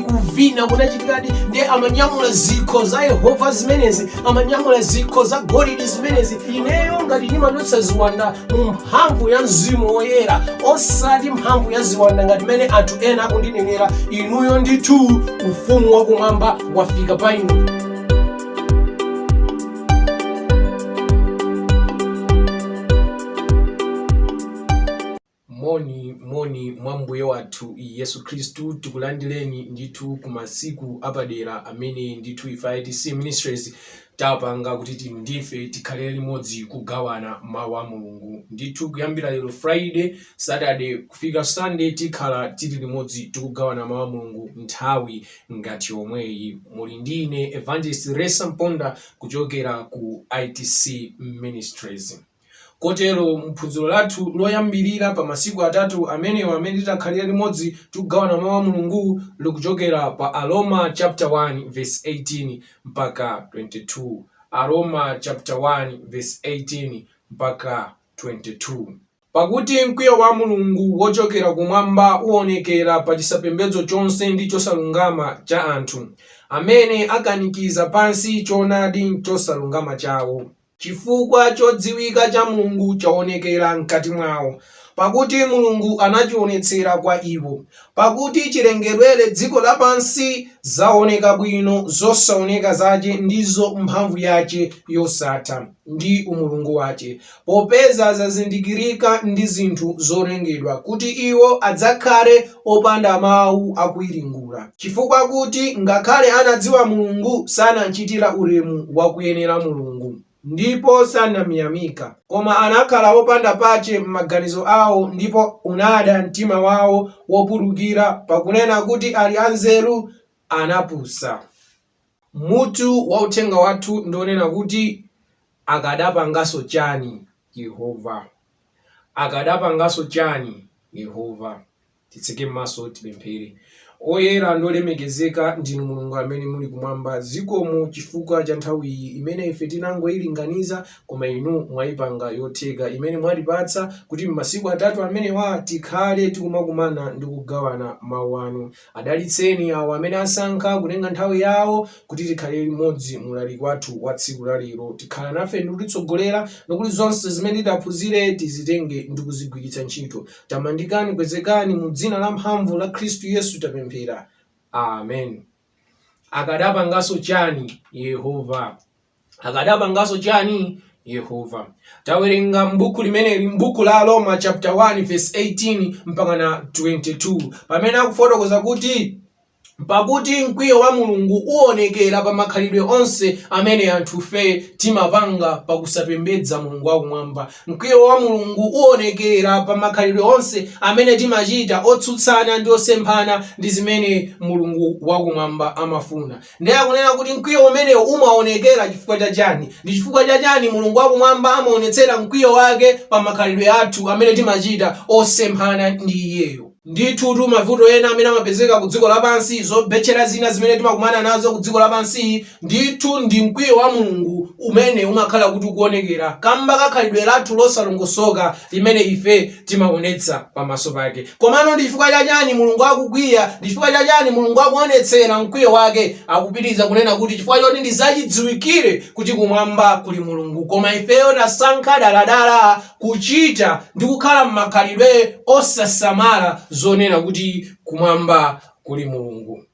kuvina kunachitikadi ndiye amanyamula zikho za yehova zimenezi amanyamula zikho za golidi zimenezi ineyo ngati ndimatulutsa ziwanda mu mphamvu ya mzimu woyera osati mphamvu ya ziwanda ngati mmene anthu ena akundinenera inuyo ndithu ufumu wakumwamba wafika pa inu Moni, moni mwa Mbuye wathu Yesu Khristu. Tikulandileni ndithu ku masiku apadera amene ndithu ife a ITC Ministries tapanga kuti inu ndife tikhalire limodzi kugawana mau a Mulungu. Ndithu kuyambira lero Friday, Saturday kufika Sunday tikhala tiri limodzi tikugawana mau a Mulungu nthawi ngati yomweyi. Muli ndi ine Evangelist Ressa Mponda kuchokera ku ITC Ministries. Kotero mu phunziro lathu loyambirira pa masiku atatu amenewa amene titakhalire limodzi tikugawana Mau a Mulungu likuchokera pa Aroma chapter 1 verse 18 mpaka 22. Aroma chapter 1 verse 18 mpaka 22. Pakuti mkwiyo wa Mulungu wochokera kumwamba uonekera pa chisapembedzo chonse ndi chosalungama cha anthu, amene akanikiza pansi choonadi m'chosalungama chawo. Chifukwa chodziwika cha Mulungu chaonekera mkati mwawo, pakuti Mulungu anachionetsera kwa iwo. Pakuti chilengedwere dziko lapansi zaoneka bwino zosaoneka zache, ndizo mphamvu yache yosatha, ndi umulungu wache, popeza zazindikirika ndi zinthu zolengedwa, kuti iwo adzakhale opanda mawu akuwiringula, chifukwa kuti ngakhale anadziwa Mulungu, sanamchitira ulemu wakuyenera Mulungu, ndipo sanamyamika, koma anakhala opanda pache m'maganizo awo, ndipo unada mtima wawo wopulukira, pakunena kuti ali anzeru, anapusa. Mutu wa uthenga wathu ndi wonena kuti, Akadapanganso Chani Yehova? Akadapanganso Chani Yehova? Titseke maso tipemphere. Oyera ndi olemekezeka ndinu Mulungu amene muli kumwamba, zikomo chifukwa cha nthawi iyi imene ife tinangoilinganiza koma inu mwaipanga yotheka, imene mwatipatsa kuti m'masiku atatu amenewa tikhale tikumakumana ndi kugawana mau anu. Adalitseni awo amene asankha kutenga nthawi yawo kuti tikhale limodzi mu ulaliki wathu wa tsiku la lero. Dikhalani nafe ndi kutitsogolera, nkuti zonse zimene titaphunzire tizitenge ndi kuzigwiritsa ntchito. Tamandikani, kwezekani, mu dzina la mphamvu la Khristu Yesu tapemphera. Amen. Akadapanganso chani Yehova? akadapanganso chani yehova tawerenga m'buku limeneli m'buku la aroma chapter 1 verse 18 mpaka na 22 pamene akufotokoza kuti pakuti mkwiyo wa mulungu uonekera pa makhalidwe onse amene anthufe timapanga pakusapembedza mulungu wakumwamba mkwiyo wa mulungu uonekera pa makhalidwe onse amene timachita otsutsana ndi osemphana ndi zimene mulungu wakumwamba amafuna Ndiye akunena kuti mkwiyo umenewo umaonekera chifukwa cha chani? Ndi chifukwa cha chani Mulungu wa kumwamba amaonetsera mkwiyo wake pa makhalidwe athu amene timachita osemphana ndi iyeyo? Ndithutu mavuto ena amene amapezeka ku dziko lapansi, zobetchera zina zimene timakumana nazo ku dziko lapansiyi, ndithu ndi mkwiyo wa Mulungu umene umakhala kuti ukuonekera kamba ka khalidwe lathu losalongosoka limene ife timaonetsa pamaso pake. Komano ndi chifukwa cha chani Mulungu akukwiya? Ndi chifukwa cha chani Mulungu akuonetsera mkwiyo wake? Akupitiliza kunena kuti chifukwa choti ndi zachidziwikire kuti kumwamba kuli Mulungu koma ifeyo tasankha daladala kuchita ndi kukhala mmakhalidwe osasamala zonena kuti kumwamba kuli Mulungu.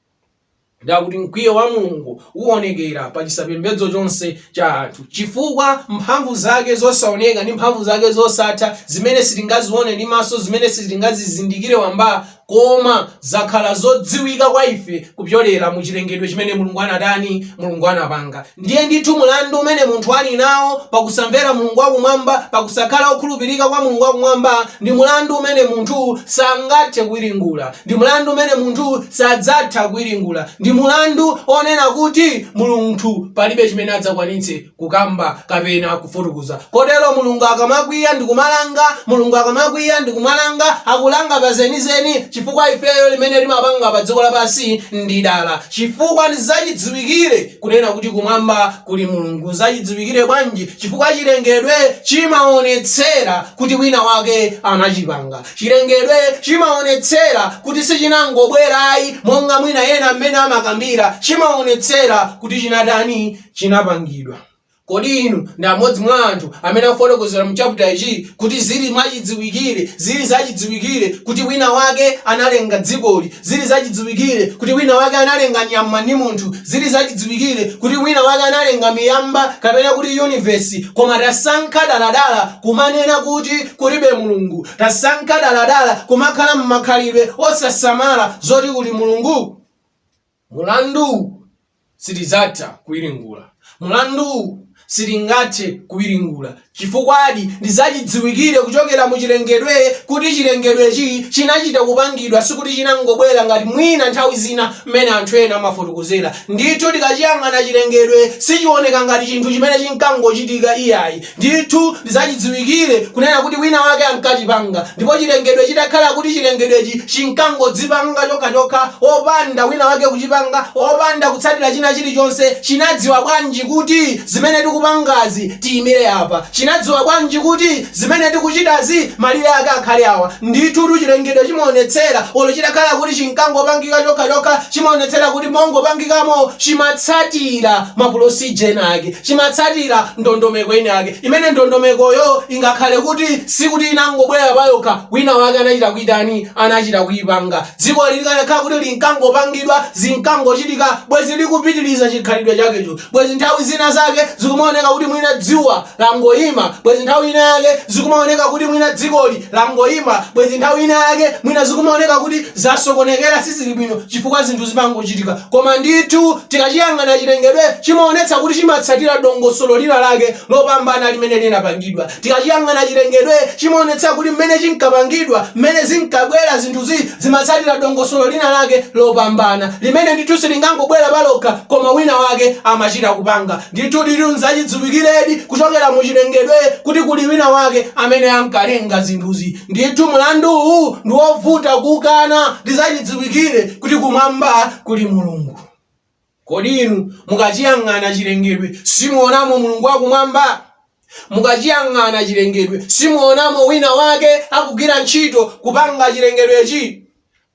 Ndiye akuti mkwiyo wa Mulungu uonekera pa chisapembedzo chonse cha anthu, chifukwa mphamvu zake zosaoneka ndi mphamvu zake zosatha, zimene sitingazione ndi maso, zimene sitingazizindikire wamba, koma zakhala zodziwika kwa ife kupyolera mu chilengedwe chimene Mulungu anatani? Mulungu anapanga. Ndiye ndithu mulandu umene munthu ali nawo pa kusamvera Mulungu wa Kumwamba, pa kusakhala wokhulupirika kwa Mulungu wa Kumwamba, ndi mulandu umene munthu sangathe kuwiringula, ndi mulandu umene munthu sadzatha kuwiringula, ndi mulandu onena kuti munthu palibe chimene adzakwanitse kukamba kapena kufotokoza. Kotero Mulungu akamakwiya ndi kumalanga, Mulungu akamakwiya ndi kumalanga, akulanga pa zenizeni, chifukwa ifeyo zimene timapanga pa dziko lapansi ndi dala, chifukwa ndi zachidziwikire, Kunena kuti kumwamba kuli Mulungu Zachidziwikire bwanji? Chifukwa chilengedwe chimaonetsera kuti winawake anachipanga. Chilengedwe chimaonetsera kuti sichinangobwera ayi, monga mwina ena mmene amakambira, chimaonetsera kuti chinatani? Chinapangidwa. Kodi inu ndi amodzi mwa anthu amene afotokozera mu chaputa ichi kuti zili mwachidziwikire, zili zachidziwikire kuti wina wake analenga dzikoli, zili zachidziwikire kuti wina wake analenga nyama ndi munthu, zili zachidziwikire kuti wina wake analenga miyamba kapena kuti universe, koma tasankha daladala kumanena kuti kulibe Mulungu, tasankha daladala kumakhala mmakhalidwe osasamala zoti kuli Mulungu? Mulanduwu sitidzatha kuwiringula. Mulanduwu sitingathe kuwiringula chifukwadi ndi zachidziwikire kuchokera mu chilengedwe kuti chilengedwechi chinachita kupangidwa, sikuti chinangobwera ngati mwina nthawi zina mmene anthu ena amafotokozera. Ndithu tikachiyang'ana chilengedwe sichioneka ngati chinthu chimene chinkangochitika iyayi. Ndithu ndizachidziwikire kunena kuti wina wake ankachipanga, ndipo chilengedwe chitakhala kuti chilengedwechi chinkangodzipanga chokha chokha opanda wina wake kuchipanga, opanda kutsatira china chilichonse, chinadziwa bwanji kuti zimene tikupangazi tiyimire apa? Chinadziwa bwanji kuti zimene tikuchitazi malire ake akhale awa? Ndithutu chilengedwe chimaonetsera, olo chitakhala kuti chinkangopangika chokha chokha, chimaonetsera kuti mongopangikamo chimatsatira ma pulosije ena ake. Chimatsatira ndondomeko inayake, imene ndondomekoyo ingakhale kuti sikuti inangobwera payokha, winawake anachita kuitani, anachita kuipanga. Dzikoli likanakhala kuti linkangopangidwa, zinkangochitika, bwenzi likupitiriza chikhalidwe chakecho, bwenzi nthawi zina zake zikumaoneka kuti mwina dzuwa langoima, bwenzi nthawi inayake zikumaoneka kuti mwina dzikoli langoima, bwenzi nthawi inayake mwina zikumaoneka kuti zasokonekera, sizili bwino chifukwa zinthu zimangochitika. Koma ndithu, tikaciyang'ana cilengedwe, cimaonetsa kuti cimatsatila dongosolo linalake lopambana limene linapangidwa. Tikaciyang'ana cilengedwe, cimaonetsa kuti mmene cinkapangidwa, mmene zinkabwela zinthuzi, zimatsatila dongosolo linalake lopambana, limene ndithu silingangobwela palokha, koma winawake amacita kupanga. Ndithu ndithu, n'zacidziwikiledi kucokela mu cilengedwe kuti kuli winawake amene ankalenga zinthuzi. Ndithu mlandu uwu ndi wovuta kukana ndi zachidziwikire kuti kumwamba kuli Mulungu. Kodi inu mukachiyang'ana chilengedwe simuonamo Mulungu wa kumwamba? Mukachiyang'ana chilengedwe simuonamo wina wake akugwira ntchito kupanga chilengedwechi?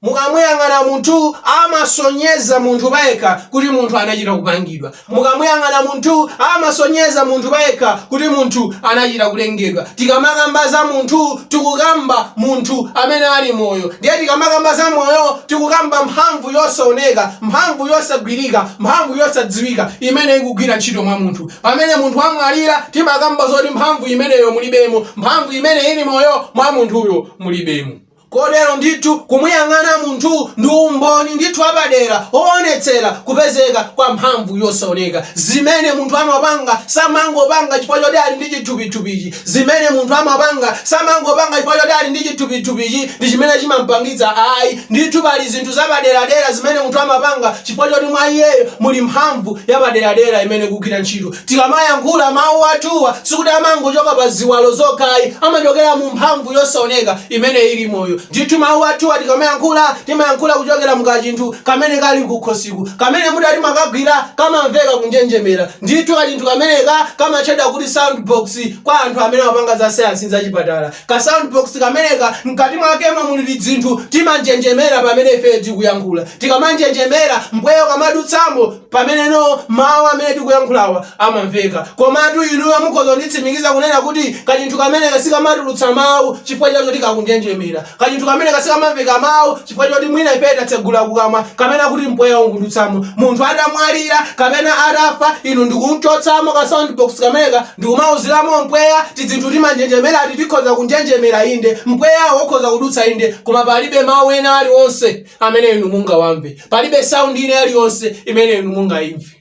Mukamuyang'ana munthu amasonyeza munthu payekha kuti munthu anachita kupangidwa. Mukamuyang'ana munthu amasonyeza munthu payekha kuti munthu anachita kulengedwa. Tikamakamba za munthu tikukamba munthu amene ali moyo. Ndiye tikamakamba za moyo tikukamba mphamvu yosaoneka, mphamvu yosagwirika, mphamvu yosadziwika imene ikugwira ntchito mwa munthu. Pamene munthu wamwalira timakamba zoti mphamvu imeneyo mulibemo, mphamvu imene ili moyo mwa munthuyo mulibemo. Kotero ndithu kumuyang'ana munthu ndi umboni ndithu wapadera woonetsera kupezeka kwa mphamvu yosaoneka. Zimene munthu amapanga samangopanga chifukwa choti ali ndi chithupithupichi. Zimene munthu amapanga samangopanga chifukwa choti ali ndi chithupithupichi ndi chimene chimampangitsa ayi. Ndithu pali zinthu zapaderadera zimene munthu amapanga chifukwa choti mwa iyeyo muli mphamvu yapaderadera imene ikugwira ntchito. Tikamayankhula, mawu athuwa sikuti amangochoka pa ziwalo zokha ayi, amachokera mu mphamvu yosaoneka imene ili moyo. Ndithu mawu athuwa tikamayankhula, timayankhula kuchokera mu kachinthu kamene kali kukhosiku, kamene mutati mukagwira kamamveka kunjenjemera. Ndithu kachinthu kameneka kamatchedwa kuti sound box kwa anthu amene amapanga za sayansi ndi za chipatala. Ka sound box kameneka mkati mwakemo muli tidzinthu timanjenjemera pamene ifeyo tikuyankhula. Tikamanjenjemera, mpweya ukamadutsamo. Pameneno mawu amene tikuyankhulawa amamveka. Komatu inuyo mukhoza kunditsimikiza kunena kuti kachinthu kameneka sikamatulutsa mawu chifukwa cha zoti kakunjenjemera. Kachinthu kameneka sikamamveka mawu chifukwa choti mwina ifeyo tatsegula kukamwa kapena kuti mpweya ukudutsamo. Munthu atamwalira kapena atafa, inu ndikum'chotsamo ka soundbox kameneka ndikumauziramo mpweya, tidzinthu timanjenjemerati tikhoza kunjenjemera inde, mpweyawo ukhoza kudutsa inde, koma palibe mawu ena alionse. amene inu mungawamve palibe sound ina iliyonse imene inu mungayimve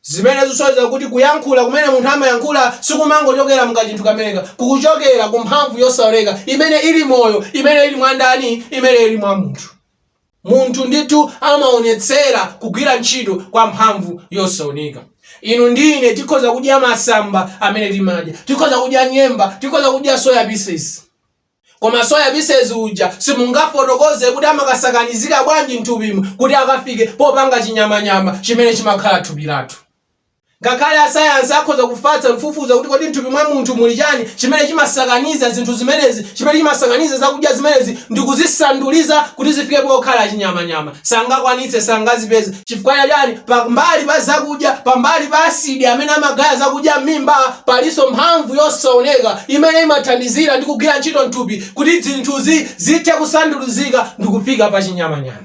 zimene zisonyeza kuti kuyankhula kumene munthu amayankhula sikumangochokera mkachinthu kameneka kukuchokera ku mphamvu yosaoneka imene ili moyo imene ili mwa ndani imene ili mwa munthu munthu ndithu amaonetsera kugwira ntchito kwa mphamvu yosaoneka inu ndi ine tikhoza kudya masamba amene timadya tikhoza kudya nyemba tikhoza kudya soya pieces Koma soya pisesi uja simungafotokoze kuti amakasakanizika bwanji m'thupimu kuti akafike popanga chinyamanyama chimene chimakhala thupi lathu. Ngakhale asayansi akhoza kufatsa kufufuza kuti kodi m'thupi mwa munthu muli chani chimene chimasakaniza zinthu zimenezi, chimene chimasakaniza zakudya zimenezi ndikuzisanduliza kuti zifike pokhala chinyamanyama, sangakwanitse, sangazipeze. Chifukwa chani? Pambali pa zakudya, pambali pa asidi amene amagaya zakudya m'mimba, palinso mphamvu yosaoneka imene imathandizira ndi kugwira ntchito m'thupi kuti zinthuzi zithe kusandulizika ndikufika pa chinyamanyama.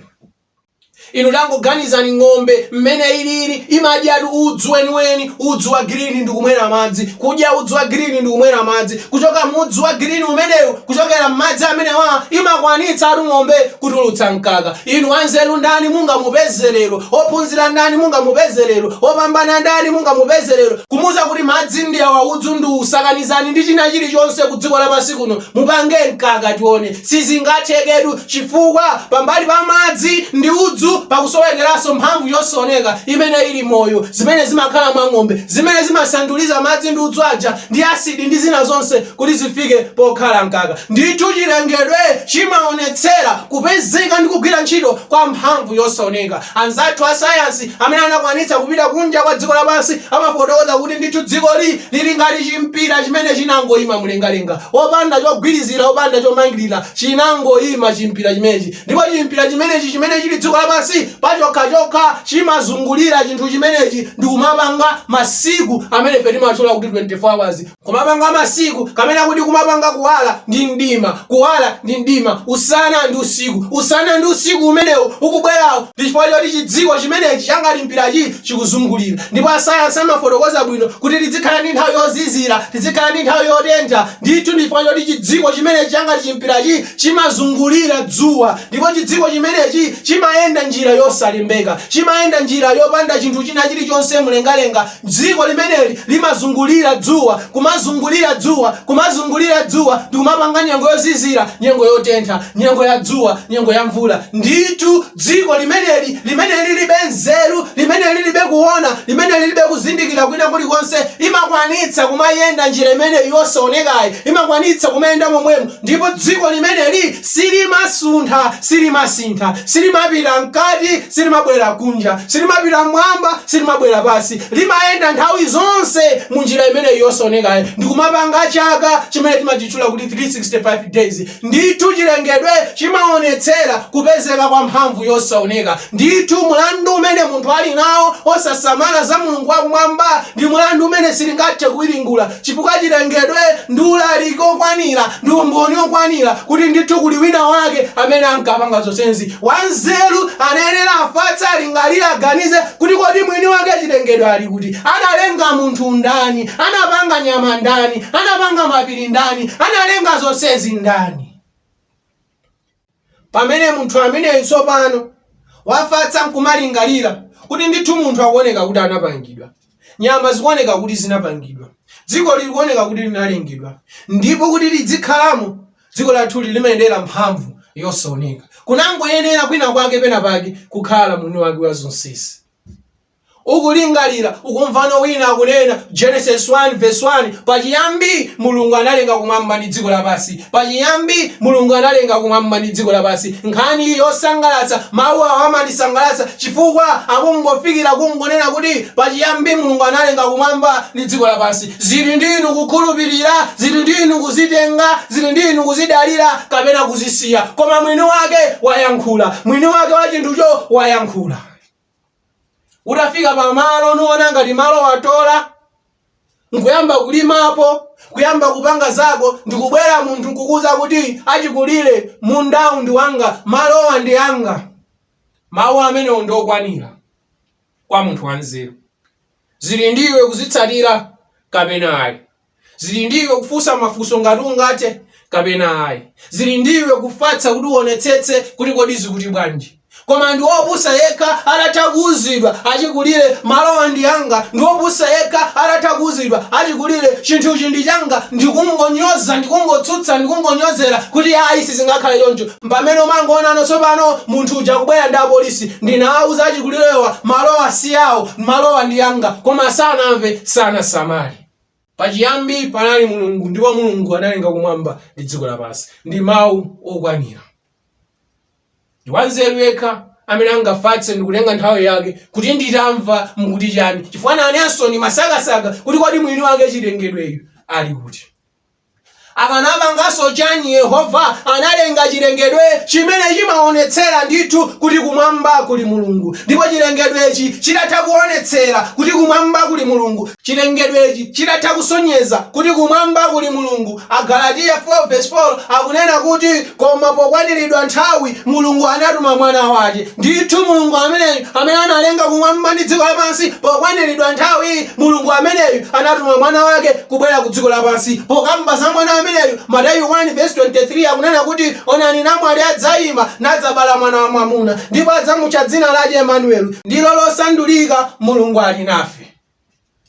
Inu tangoganizani ng'ombe m'mene ilili, imadyatu udzu weniweni, udzu wa girini ndikumwera madzi, kudya udzu wa girini ndikumwera madzi, kuchoka mu udzu wa girini umenewu, kuchokera m'madzi amenewa imakwanitsatu ng'ombe kutulutsa mkaka. Inu wanzeru ndani mungamupeze lero? Wophunzira ndani mungamupeze lero? Wopambana ndani mungamupeze lero? Kumuuza kuti madzi ndi awa, udzu ndi uwu, sakanizani ndi china chilichonse ku dziko lapansi kuno, mupange mkaka tione. Sizingatheketu, chifukwa pambali pa madzi ndi udzu pakusowekeranso mphamvu yosaoneka imene ili moyo, zimene zimakhala mwa ng'ombe, zimene zimasanduliza madzi ndi udzu aja ndi asidi ndi zina zonse, kuti zifike pokhala mkaka. Ndithu chilengedwe chimaonetsera kupezeka ndi kugwira ntchito kwa mphamvu yosaoneka. Anzathu a sayansi amene anakwanitsa kupita kunja kwa dziko lapansi amafotokoza kuti ndithu dzikoli lili ngati chimpira chimene chinangoima mlengalenga, opanda chogwirizira, opanda chomangirira, chinangoima chimpira chimenechi. Ndipo chimpira chimenechi chimene chili dziko lapansi pachokhachokha chimazungulira chinthu chimenechi ndikumapanga masiku amene ife timatchula kuti 24 hours. Kumapanga masiku, kapena kuti kumapanga kuwala ndi mdima, kuwala ndi mdima, usana ndi usiku, usana ndi usiku umenewo ukubwerawo, ndi chifukwa choti chidziko chimenechi changati mpirachi chikuzungulira. Ndipo asayansi amafotokoza bwino kuti tidzikhala ndi nthawi yozizira, tidzikhala ndi nthawi yotentha, ndithu ndi chifukwa choti chidziko chimenechi changati chimpirachi chimazungulira dzuwa, ndipo chidziko chimenechi chimayenda njira yosalembeka, chimayenda njira yopanda chinthu china chilichonse mlengalenga, Dziko limeneli limazungulira dzuwa, kumazungulira dzuwa, kumazungulira dzuwa, ndi kumapanga nyengo yozizira, nyengo yotentha, nyengo ya dzuwa, nyengo ya mvula. Ndithu dziko limeneli, limene liribe nzeru, limene liribe kuwona, limene liribe kuzindikira kwina kulikonse, limakwanitsa kumayenda njira imeneyi yosawonekayi, limakwanitsa kumayenda momwemu. Ndipo dziko limeneli silimasuntha, silimasintha, silimapita mkati, silimabwera kunja, silimapita mmwamba, silimabwera pansi, limayenda nthawi zonse mu njira imeneyi yosaonekayi, ndi kumapanga chaka chimene timachitchula kuti 365 days. Ndithu chilengedwe chimawonetsera kupezeka kwa mphamvu yosaoneka. Ndithu mulandu umene munthu ali nawo osasamala za Mulungu wa Kumwamba ndi mulandu umene sitingathe kuwiringula. Chifukwa chilengedwe ndi ulaliki okwanira ndi umboni okwanira kuti ndithu kuli wina wake amene ankapanga zonsezi. Wanzeru anayenera afatse alingalire aganize kuti kodi mwini wake chilengedwe ali kuti? Analenga munthu ndani? Anapanga nyama ndani? Anapanga mapiri ndani? Analenga zonsezi ndani? Pamene munthu ameneyi tsopano wafatsa nkumalingalira kuti ndithu munthu akuoneka kuti anapangidwa, nyama zikuoneka kuti zinapangidwa, dzikoli likuoneka kuti linalengedwa, ndipo kuti lidzikhalamo, dziko lathuli limayendera mphamvu yosaoneka. Kunangoyenera kwinakwake penapake kukhala mwiniwake wa zonsezi. ukulingalira, ukumvano wina akunena, Genesis 1 verse 1, pachiyambi Mulungu analenga kumwamba ndi dziko lapansi. Pachiyambi Mulungu analenga kumwamba ndi dziko lapansi. Nkhani yosangalatsa, mawu awa amandisangalatsa chifukwa akungofikira kungonena kuti pachiyambi Mulungu analenga kumwamba ndi dziko lapansi. Zili ndi inu kukhulupirira, zili ndi inu kuzitenga, zili ndi inu kuzidalira kapena kuzisiya. Koma mwini wake wayankhula. Mwini wake wa chinthucho wayankhula. utafika pamalo nuona ngati malo watola nkuyamba kulimapo kuyamba kupanga zako ndikubwera munthu nkukuuza kuti achikulire mundawu ndi wanga malowa ndi anga mawu amenewo ndi okwanira kwa munthu wanzeru zili ndiwe kuzitsatira kapena ayi zili ndi iwe kufunsa mafunso ngati ungathe kapena ayi zili ndi iwe kufatsa kuti uonetsetse kuti kodi zikuti bwanji koma ndi wopusa yekha atatha kuuzidwa achikulire malowa ndi anga ndi wopusa yekha atatha kuuzidwa achikulire chinthuchi ndi changa ndikungonyoza ndikungotsutsa ndikungonyozera kuti ayi sizingakhale choncho pamene umangoonano tsopano munthu uja kubwera ndi apolisi ndinawauza achikulirewa malowa si awo malowa ndi anga koma sanamve sanasamale Pachiyambi panali Mulungu, ndipo Mulungu analenga kumwamba ndi dziko lapansi. Ndi mawu okwanira. Ndi wanzeru yekha amene angafatse ndi kutenga nthawi yake kuti nditamva mukuti chani, chifukwa nanenso ndimasakasaka kuti kodi mwini wake chilengedweyu ali kuti. Anakapanganso chani Yehova analenga chilengedwe chimene chimawonetsera ndithu kuti kumwamba kuli Mulungu ndipo chilengedwechi chitatha kuwonetsera kuti kumwamba kuli Mulungu chilengedwechi chitatha kusonyeza kuti kumwamba kuli Mulungu Agalatiya 4 vs 4 akunena kuti Koma pokwaniridwa nthawi, Mulungu anatuma Mwana wache. Ndithu Mulungu ameneyu, amene analenga kumwamba ndi dziko lapansi, pokwaniridwa nthawi, Mulungu ameneyu anatuma Mwana wake kubwera ku dziko lapansi. Pokamba za Mwana ameneyu, Mateyu 1 vesi 23 akunena kuti, Onani namwali adzaima, nadzabala mwana wamwamuna, ndipo adzamutcha dzina lache Emanueli, ndilo losandulika, Mulungu ali nafe.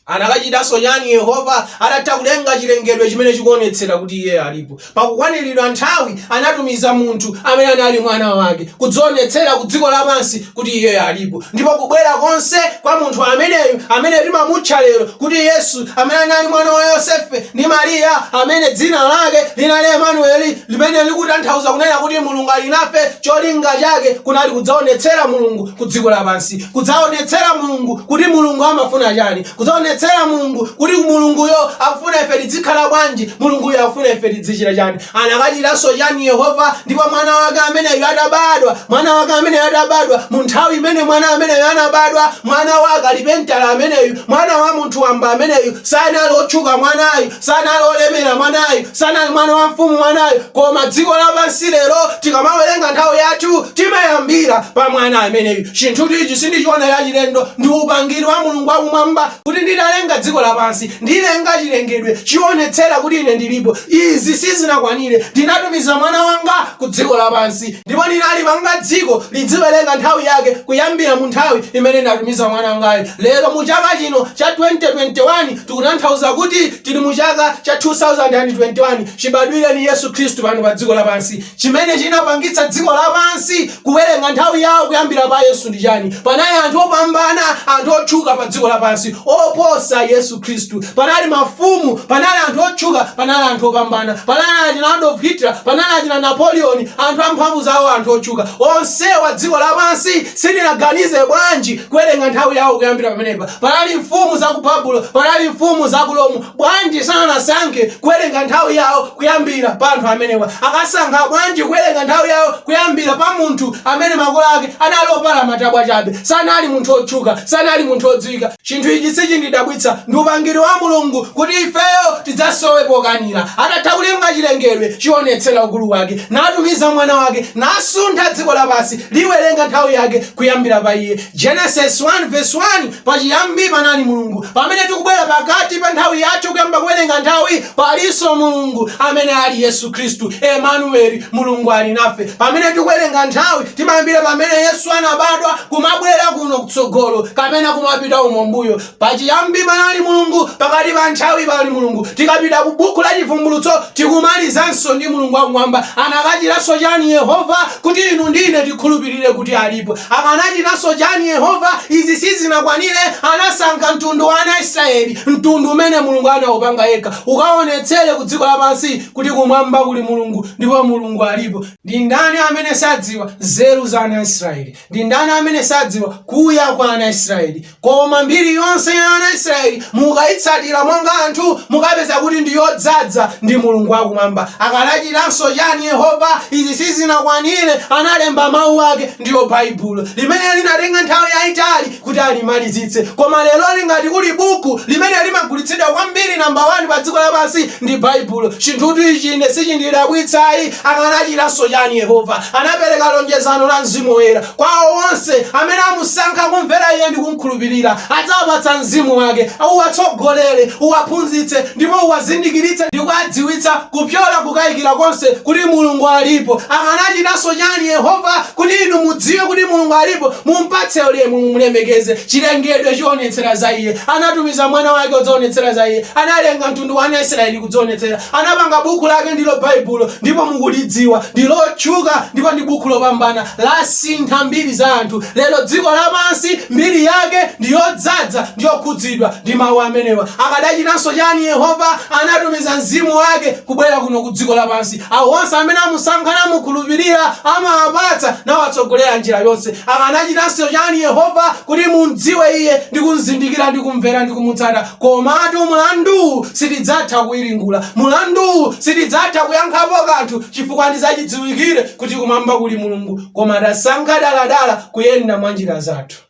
Anakachitanso chani Yehova atatha kulenga chilengedwe chimene chikuonetsera kuti iye alipo? Pakukwaniridwa nthawi anatumiza munthu amene anali mwana wake kudzaonetsera ku dziko lapansi kuti iye alipo. Ndipo kubwera konse kwa munthu ameneyu amene timamutcha lero kuti Yesu amene anali mwana wa Yosefe ndi Maria amene dzina lake linali Emanueli limene likutanthauza kunena kuti Mulungu ali nafe cholinga chake kunali kudzaonetsera Mulungu ku dziko lapansi kudzaonetsera Mulungu kuti Mulungu amafuna chani, kudzaonetsera Mulungu kuti Mulunguyo akufuna ife tidzikhala bwanji, Mulunguyo akufuna ife tidzichita chani. Anakachitanso chani Yehova? Ndipo mwana wake ameneyu atabadwa, mwana wake ameneyu atabadwa, mu nthawi imene mwana ameneyu anabadwa, mwana wa kalipentala ameneyu, mwana wa munthu wamba ameneyu, sanali otchuka mwanayu, sanali olemera mwanayu, Sanali mwana wa mfumu mwanayo, koma dziko lapansi lero tikamawerenga nthawi yathu timayambira pa mwana ameneyu. Chinthutu ichi sindichiona chachilendo, ndi upangiri wa Mulungu wa kumwamba kuti ndidalenga dziko lapansi, ndilenga chilengedwe chionetsera kuti ine ndilipo. Izi sizinakwanire, ndinatumiza mwana wanga ku dziko lapansi. Ndipo ndinalipanga dziko lidziwelenga nthawi yake kuyambila mu nthawi imene ndatumiza mwana wangayo. Lero mu chaka chino cha 2021 tikutanthauza kuti tili mu chaka cha 2021 chibadwileni Yesu Khristu pano pa dziko lapansi. Chimene chinapangitsa dziko lapansi kuwelenga nthawi yawo kuyambila pa Yesu ndi chani? Panali anthu opambana, anthu otchuka pa dziko lapansi oposa Yesu. Khristu. Panali mafumu, panali anthu otchuka, panali anthu opambana, panali achina Adolf Hitler, panali achina Napoleon, anthu a mphamvu zawo, anthu otchuka, onsewa dziko lapansi silinaganize bwanji kuwerenga nthawi yawo kuyambira pamenepa. Panali mfumu za ku Babulo, panali mfumu za ku Rome, bwanji sanasankhe kuwerenga nthawi yawo kuyambira pa anthu amenewa? Akasankha bwanji kuwerenga nthawi yawo kuyambira pa munthu amene makolo ake anali opala matabwa chabe, sanali munthu otchuka, sanali munthu odziwika, Chinthu ichi sichindidabwitsa. Ndi upangiri wa Mulungu kuti ifeyo tidzasowe pokanira. Atatha kulenga chilengedwe, chionetsera ukulu wake, natumiza Mwana wake, nasuntha dziko lapansi, liwerenga nthawi yake kuyambira pa Iye. Genesis 1 vs 1 Pachiyambi panali Mulungu. Pamene tikubwera pakati pa nthawi yathu kuyamba kuwerenga nthawi, Palinso Mulungu amene ali Yesu Khristu, Emanueli, Mulungu ali nafe. Pamene tikuwerenga nthawi, timayambira pamene Yesu anabadwa kumabwera kuno kutsogolo, kapena kumapita umo m'mbuyo. Pachiyambi panali Mulungu, pakati pa nthawi pali Mulungu. Tikapita ku Buku la Chivumbulutso, tikumalizanso ndi Mulungu wa Kumwamba. Akanachitanso chani Yehova kuti inu ndi ine tikhulupirire kuti alipo? Akanachitanso chani Yehova? Izi sizinakwanire, anasankha mtundu wa ana a Israyeli, mtundu umene Mulungu anaupanga yekha, ukaonetsere ku dziko lapansi kuti kumwamba kuli Mulungu ndipo Mulungu alipo. Ndi ndani amene sadziwa nzeru za ana a Israyeli? Ndi ndani amene sadziwa kuya kwa ana a Israyeli? Koma mbiri yonse ya ana a Israeli mukaitsatira monga anthu, mukapeza kuti ndi yodzadza ndi Mulungu wa kumwamba. Akanachitanso chani Yehova? Izi sizinakwanire, analemba Mau ake, ndiyo Baibulo, limene linatenga nthawi yaitali kuti alimalizitse. Koma leroli ngati kuli buku limene limagulitsidwa kwambiri namba wani pa dziko lapansi ndi Baibulo. Chinthutu ichi ine sichindidabwitsa ayi. Akanachitanso chani Yehova? Anapereka lonjezano la Mzimu Woyera. Kwa awo onse amene amusankha, kumvera Iye, ndi kumkhulupirira, adzawapatsa Mzimu wake, uwatsogolere, uwaphunzitse, ndipo uwazindikiritse ndi kuwadziwitsa kupyola kukaikira konse kuti Mulungu alipo. Akanachitanso chani Yehova? Kuti inu mudziwe kuti Mulungu alipo, mumpatse ulemu, mumlemekeze. Chilengedwe chionetsera za Iye. Anatumiza Mwana wake kudzaonetsera za Iye. Analenga mtundu wa ana Israeli kudzionetsera. Anapanga Bukhu lake, ndilo Baibulo, ndipo mukulidziwa. Ndi lotchuka ndipo ndi Bukhu lopambana. lasintha mbiri za anthu. Lero dziko lapansi mbiri yake ndi yodzadza ndiyokhudzidwa ndi Mau amenewa. Akadachitanso chani Yehova? Anatumiza Mzimu wake kubwera kuno ku dziko lapansi. Awo onse amene amusankha namukhulupirira amawapatsa nawatsogolera njira yonse. Akanachitanso chani Yehova kuti mumdziwe Iye ndi kumzindikira ndi kumvera ndi kumutsata? Komatu mlanduwu sitidzatha kuwiringula. Mlanduwu sitidzatha kuyankhapo kanthu. chifukwa ndi zachidziwikire kuti kumwamba kuli Mulungu koma tasankha daladala kuyenda mwa njira zathu.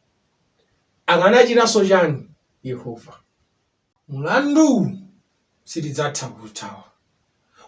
Akanachitanso chani Yehova? Mlanduwu sitidzatha kuuthawa.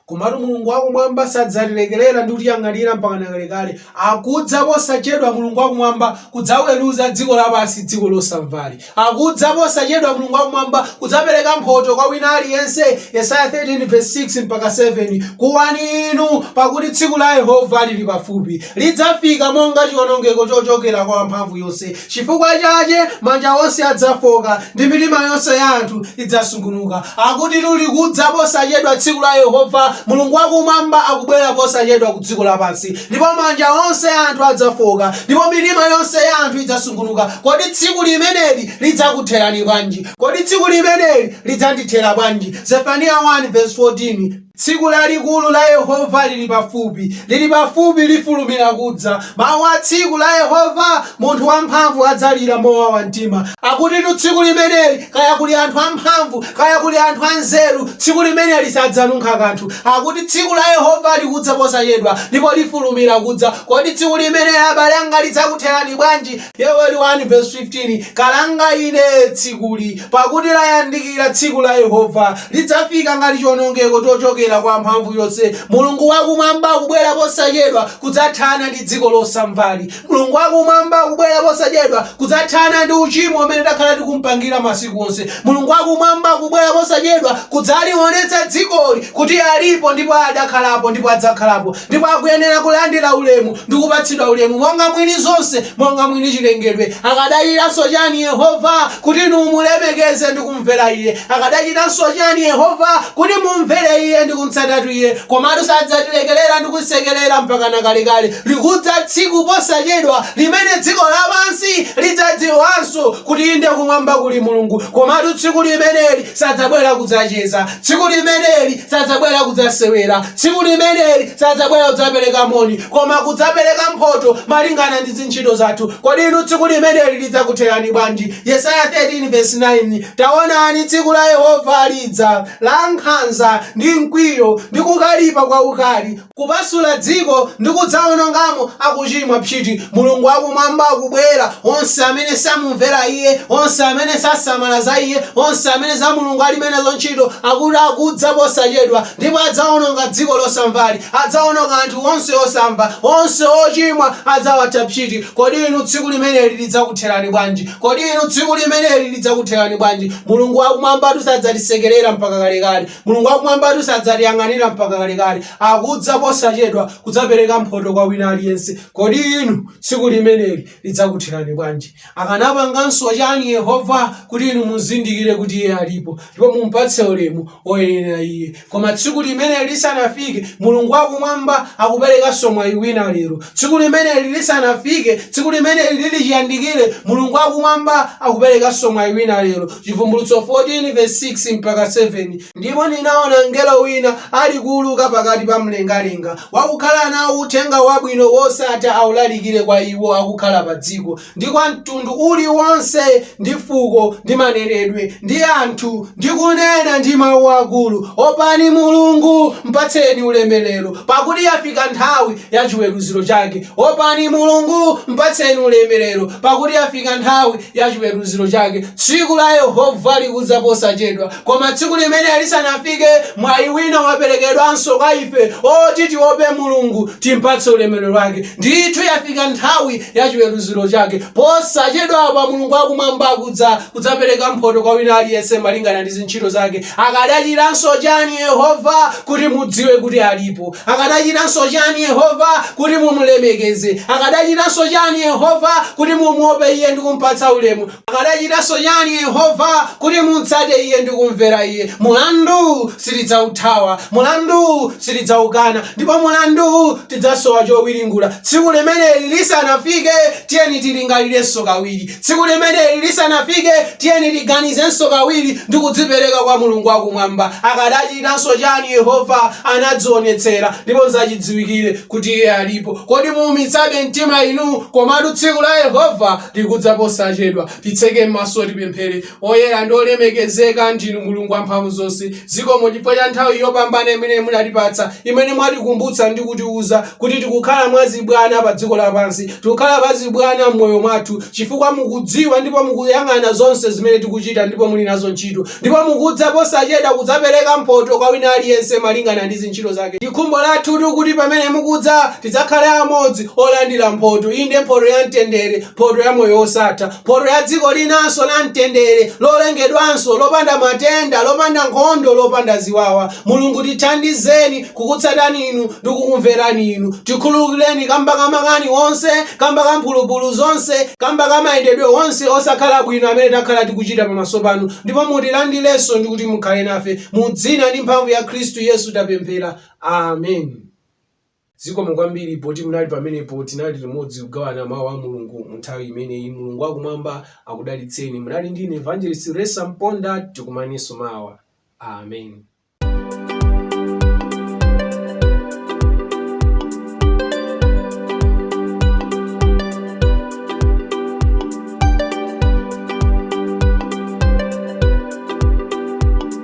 Komatu Mulungu wakumwamba sadzatilekerera ndi kutiyang'anira mpakana kalekale. Akudza posachedwa Mulungu wakumwamba kudzaweruza dziko lapansi, dziko losamvali. Akudza posachedwa Mulungu wa Kumwamba kudzapereka mphoto kwa wina aliyense Yesaya 13 vs 6 mpaka 7 Kuwani inu, pakuti tsiku la Yehova liri pafupi, lidzafika monga cionongeko cocokera kwa Wamphamvuyonse, cifukwa cace manja onse adzafoka, ndi mitima yonse ya anthu idzasungunuka. Akutitu likudza posachedwa tsiku la Yehova, Mulungu wa Kumwamba akubwera posachedwa ku dziko lapansi. ndipo manja onse a anthu adzafooka, ndipo mitima yonse ya anthu idzasungunuka. Kodi tsiku limeneli lidzakutherani bwanji? Kodi tsiku limeneli lidzandithera bwanji? Zefaniya 1 vesi 14. Tsiku lalikulu la Yehova lili pafupi, lili pafupi, lifulumira kudza. Mawu a tsiku la Yehova, munthu wamphamvu adzalira mowawa mtima. Akutitu tsiku limeneli, kaya kuli anthu amphamvu, kaya kuli anthu anzeru, tsiku limeneli sadzanunkha kanthu. Akuti tsiku la Yehova likudza posachedwa, ndipo lifulumira kudza. Kodi tsiku limeneli abale anga lidzakutherani bwanji? Yoweli 1 vesi 15, Kalanga ine tsikuli! Pakuti layandikira tsiku la Yehova, lidzafika ngati chiwonongeko chochokera kwa Wamphamvuyonse. Mulungu wa Kumwamba akubwera posachedwa kudzathana ndi dziko losamvali. Mulungu wa Kumwamba akubwera posachedwa kudzathana ndi uchimo umene takhala tikumpangira masiku onse. Mulungu wa Kumwamba akubwera posachedwa kudzaliwonetsa dzikoli kuti alipo ndipo adakhalapo ndipo adzakhalapo ndipo akuyenera kulandira ulemu ndi kupatsidwa ulemu monga mwini zonse, monga mwini chilengedwe. Akadachitanso chani Yehova kuti inu mumulemekeze ndi kumumvera Iye. Akadachitanso chiyani Yehova? Kuti mumvere Iye ndi kumtsatatu Iye. Komatu sadzatilekerera ndi kusekerera mpakana kalekale. Likudza tsiku posachedwa limene dziko lapansi lidzadziwanso kuti inde kumwamba kuli Mulungu. Komatu tsiku limeneli sadzabwera kudzacheza. Tsiku limeneli sadzabwera kudzasewera. Tsiku limeneli sadzabwera kudzapereka moni, koma kudzapereka mphoto malingana ndi ntchito zathu. Kodi inu tsiku limeneli lidzakutherani bwanji? Yesaya 13 vesi 9, Taonani, tsiku la Yehova lidza, lankhanza, ndi mkwiyo, ndi kukalipa kwaukali, kupasula dziko, ndi kudzaonongamo akucimwa, psiti, Mulungu wa Kumwamba akubwera, onse amene samumvera iye, onse amene sasamala za iye, onse amene za Mulungu alibe nazo ntchito, akuti akudza posachedwa. Ndipo adzawononga dziko losamvali, adzawononga anthu onse osamva, onse ochimwa adzawatha psiti. Kodi inu tsiku limeneli lidzakutherani bwanji? Kodi inu tsiku limeneli lidzakutherani bwanji? Mulungu wa Kumwambatu sadzatisekerera mpaka kalekale. Mulungu wa Kumwambatu sadzatiyang'anira mpaka kalekale. Akudza posachedwa kudzapereka mphoto kwa wina aliyense. Kodi inu tsiku limeneli lidzakutherani bwanji? Akanapanganso chani Yehova kuti inu muzindikire kuti Iye alipo ndipo mumpatse ulemu woyenera Iye? Koma tsiku limeneli lisanafike, Mulungu wa Kumwamba akuperekanso mwayi wina lero. Tsiku limeneli lisanafike, tsiku limeneli liri chiyandikire, Mulungu wa Kumwamba akuperekanso mwayi wina lero. Chivumbulutso 14 vesi 6-7. Ndipo ndinaona mngelo wina alikuuluka pakati pa mlengalenga, wakukhala nao Uthenga Wabwino wosatha aulalikire kwa iwo akukhala padziko, ndi kwa mtundu uli wonse, ndi fuko, ndi manenedwe, ndi anthu, ndi kunena ndi mau akulu, Opani Mulungu, mpatseni ulemerero, pakuti yafika nthawi ya chiweruziro chake, opani Mulungu, mpatseni ulemerero, pakuti yafika nthawi ya chiweruziro chake tsiku la yehova likudza posachedwa koma tsiku limeneli lisanafike mwayi wina waperekedwanso kwa ife oti tiope mulungu timpatse ulemerero wake ndithu yafika nthawi ya chiweruziro chake posachedwapa mulungu wakumwamba akudza kudzapereka mphoto kwa wina aliyense malingana ndi zintchito zake akadachitanso chani yehova kuti mudziwe kuti alipo Akadachitanso chani Yehova kuti mumulemekeze? Akadachitanso chani Yehova kuti mumuope Iye ndi kumpatsa ulemu? Akadachitanso chani Yehova kuti mumtsate Iye ndi kumvera Iye? Mulandu sitidzauthawa, mulandu sitidzaukana, ndipo mulandu tidzasowa chowiringula. Tsiku limeneli lisanafike, tiyeni tilingalirenso kawiri. Tsiku limeneli lisanafike, tiyeni tiganizenso kawiri ndi kudzipereka kwa Mulungu wakumwamba. Akadachitanso chani Yehova? Anadzionetsera, ndipo n'zachidziwikire kuti iye alipo. Kodi muumitsabe mtima inu? Komatu tsiku la Yehova likudza posachedwa. Titseke maso, tipemphere. Oyera ndi olemekezeka ndinu, Mulungu Wamphamvuzonse. Zikomo chifukwa cha nthawi yopambana imene munatipatsa, imene mwatikumbutsa ndi kutiuza kuti tikukhala mwa zibwana pa dziko lapansi. Tikukhala mwa zibwana m'moyo mwathu chifukwa mukudziwa ndipo mukuyang'ana zonse zimene tikuchita ndipo muli nazo ntchito. Ndipo mukudza posachedwa kudzapereka mphoto kwa wina aliyense malingana ndi zintchito zake. Ndi khumbo lathutu kuti pamene mukudza tidzakhale amodzi olandira mphoto, inde mphoto ya mtendere, mphoto ya moyo wosatha. Mphoto ya dziko linanso la mtendere, lolengedwanso, lopanda matenda, lopanda nkhondo, lopanda ziwawa. Mulungu tithandizeni kukutsatani Inu ndi kukumverani Inu. Tikhululukireni kamba ka makani onse, kamba ka mphulupulu zonse, kamba ka mayendedwe onse osakhala bwino amene takhala tikuchita pamaso Panu, ndipo mutilandirenso ndi kuti Mukhale nafe. Mu Dzina ndi mphamvu ya Khristu Yesu tapemphera. Amen. Zikomo kwambiri poti munali pamenepo. Tinali limodzi kugawana Mau a Mulungu mu nthawi imeneyi. Mulungu wa Kumwamba akudalitseni. Munali ndi ine Evangelist Ressa Mponda. Tikumanenso mawa. Amen.